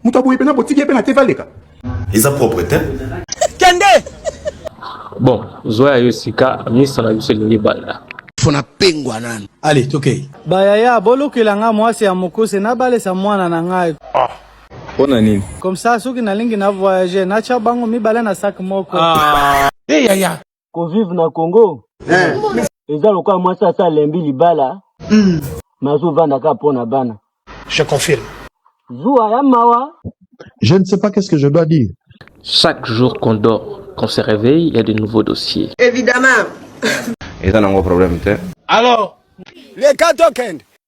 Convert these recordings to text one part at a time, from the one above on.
moto aboye mpena botiki ye mpe na te valeka eza propre te kende bon zwa ya yo sika misa na biso elingi banda mpo na pengwa nanu ale tokei bayaya bolukela nga mwasi ya mokuse nabalisa mwana na ngai ah. Pona nini? Comme ça soki nalingi na voyager nacha bango mibale na sac moko. Ah. Eh yaya. Ko vivre na Congo. Eh. Eza lokola mwasi asa lembi libala. Mm. Mazo vanda ka pona bana. Je confirme. Zuwa ya mawa. Je ne sais pas qu'est-ce que je dois dire. Chaque jour qu'on dort, qu'on se réveille, il y a de nouveaux dossiers. Évidemment. eza nango problème te alors les cas token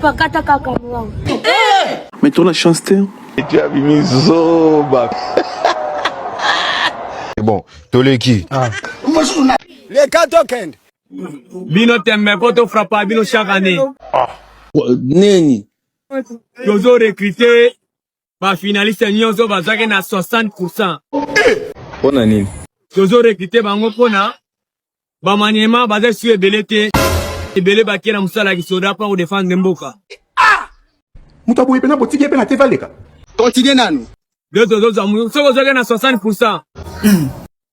Pakata kaka mwango. Mais tu as la chance, t'es. Tu as mis zoba. bon toleki ah. leka tokende bino tembe po tofrapa bino chaque année ah. nini tozo recrute ba finaliste nyonso bazwaki na 60 pourcent mpo na nini tozo recrute bango mpo na bamaniema baza su ebele te ebele bakie na mosala ya kisoda mpo kodefendre mboka ah! moto aboye mpena botiki ye mpe na te valeka kontinue nanu yo tozozwa soki ozwaki na 60 pourcent hmm.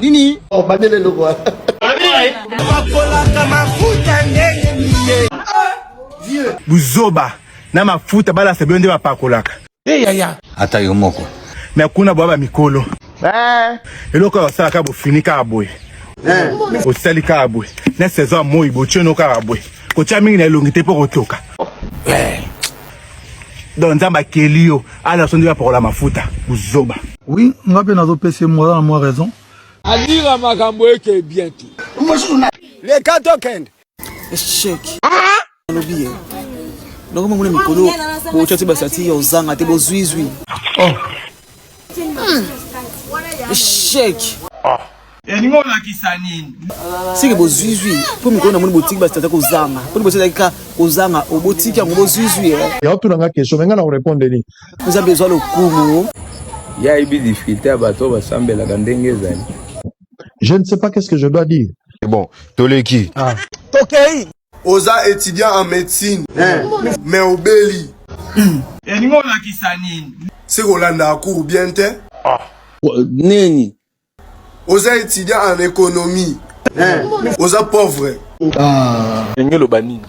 Nini? Oh, bandele loko. Bakolaka mafuta ndenge nini? Dieu. Buzoba na mafuta balasa bende bapakolaka. Eh yaya. Ata yo moko. Mais kuna bwa ba mikolo. Eh. Eloko ya sala ka bofini ka boye. Eh. Osali ka boye. Na saison moyi bochono ka boye. Kocha mingi na elongi te po kotoka. Eh. donc nzambe akeli yo ala so nde bapakola mafuta buzoba oui nga mpe nazopesa mwana na mwa raison alira makambo eke bien te leka tokende echec alobi ye ndongo mamuna mikolo botya te basati ya ozanga te bozwizwi oh. hmm. echec elingi olakisa nini seke bozwizwi mpo mikolo namoni botiki basi tata kozanga mpo liboso ezalaki ka kozanga obotiki yango bozwizwi eh. ya otuna nga question menga na korepondre nini oza bezwa lokumu ya ayebi difficulté ya bato oyo basambelaka ndenge ezali je ne sais pas qu'est ce que je dois dire bon toleki ah. tokei oza étudiant en médecine eh. mais obeli elingi olakisa nini seke olandaka cour bien te ah. nini oza étudiant en économie eh. oza pauvre ah. ndenge oloba nini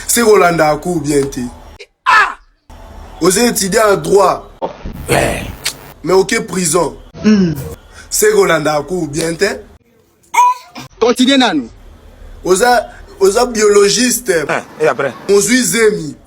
se kolanda aku bien te ah. oza étudiant en droit eh. mais oke prison hmm. se kolanda aku bien te continue nanu oza oza biologiste mozwi zemi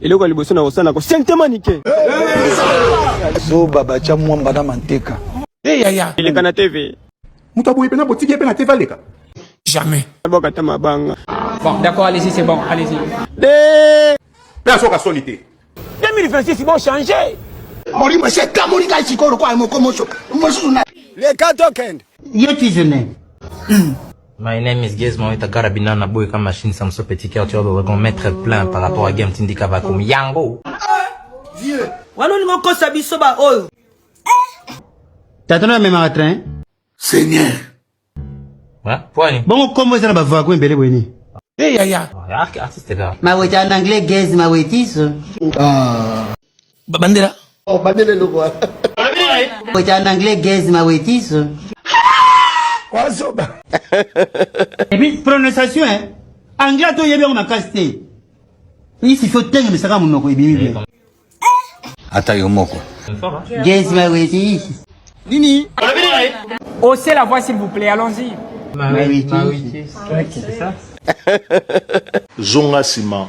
eloko ya liboso na kosala ko sentemanike zoba batya mwamba na manteka hey, ya, ya. eleka na tv moto aboyi mpenza botiki ye mpe na tv aleka jamais boka ta mabanga bon d'accord allez-y c'est bon allez-y de mpe asoka soni te 2026 bon changer molimo esi ekamoli ngai sikoyo lokola moko moso mosusu na leka tokende ye tizene My name is Gizmo Moïta Karabina na boy comme machine Samso Petit Cœur tu vas qu'on mettre plein par rapport à Game Tindika va comme Yango. Vieux. Wana olingi okosa biso ba oyo. Tata na memaka train. Seigneur. Ouais, pwani. Bongo kombo eza na ba vago mbele bweni. Eh yaya. Artiste là. Maweta en anglais Gizmo Moïtiso. Ah. Babandela. Oh, bandela eloko wana. Weta en anglais gaze ma wetiso. Wazoba. Et puis prononciation hein. Anglais to yebi yango makasi te. Isi faut tenga misaka munoko ebimi bien. Ata yo moko. Gaze ma wetiso. Nini? Haussez la voix s'il vous plaît, allons-y. Ma wetiso. C'est ça. Zonga sima.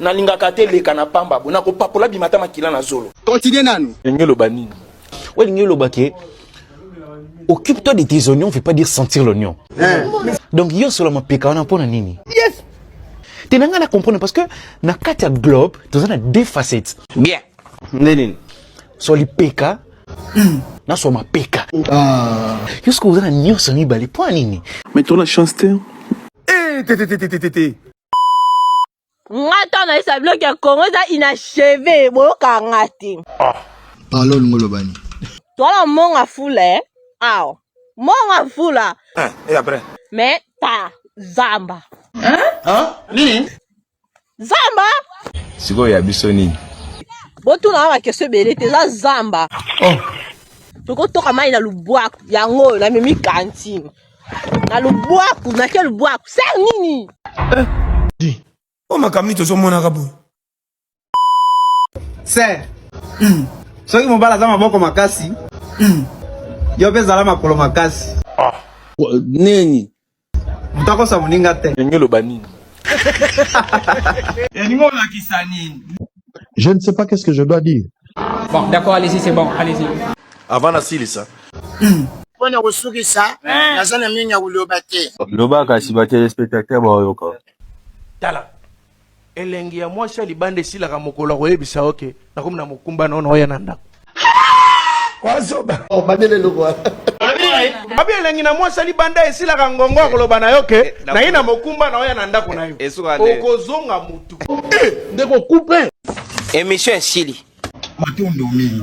Na lingaka te leka na pamba bo na ko papola bima ata makila na zolo. Continue nanu. Lingi loba nini? Wa lingi loba ke occupe-toi de tes oignons veut pas dire sentir l'oignon. Eh. Donc yo solo mapeka wana pona nini? Yes. Te na nga na comprendre parce que na kati ya globe toza na deux facettes. Bien. Nde nini? So lipeka hmm. na so mapeka. Ah. Yo soko oza na nyonso mibale pona nini? Mais tu as la chance te. Eh, te te te te te te. nga ntango nayesa biloko ya kongo eza inacheve boyokaka nga te ah. palo olingi oloba nini toala monga fula e eh? awa monga fula eh, e après me ta zamba nini zamba sikoyo ya biso nini botuna nga bakesio ebele te eza zamba oh. tokotoka mai na lubwaku yango oyo namemi kantine na lubwaku na ke lubwaku se nini eh, di o makambo nini tozomonaka boye ser hmm. soki mobali aza maboko makasi hmm. yo mpe zala makolo makasi ah. nini moto akosa moninga te ndenge oloba nini elingi olakisa nini je ne sais pas qu'est-ce que je dois dire bon d'accord allez-y c'est bon allez-y avant nasilisa mpo na kosukisa naza na mingi ya koloba te loba kasi batelespectateur baoyoka tala elengi ya mwasi ya libanda esilaka mokolo akoyebisa oke nakomi na mokumba nono oya na ndako wazoba oh, babele lokwa babi elengi na mwasi alibanda esilaka ngongo akoloba na yo ke eh, naye na mokumba na oya na ndako na yo eh, okozonga motu eh, ndeko coupe emission esili matondo mingi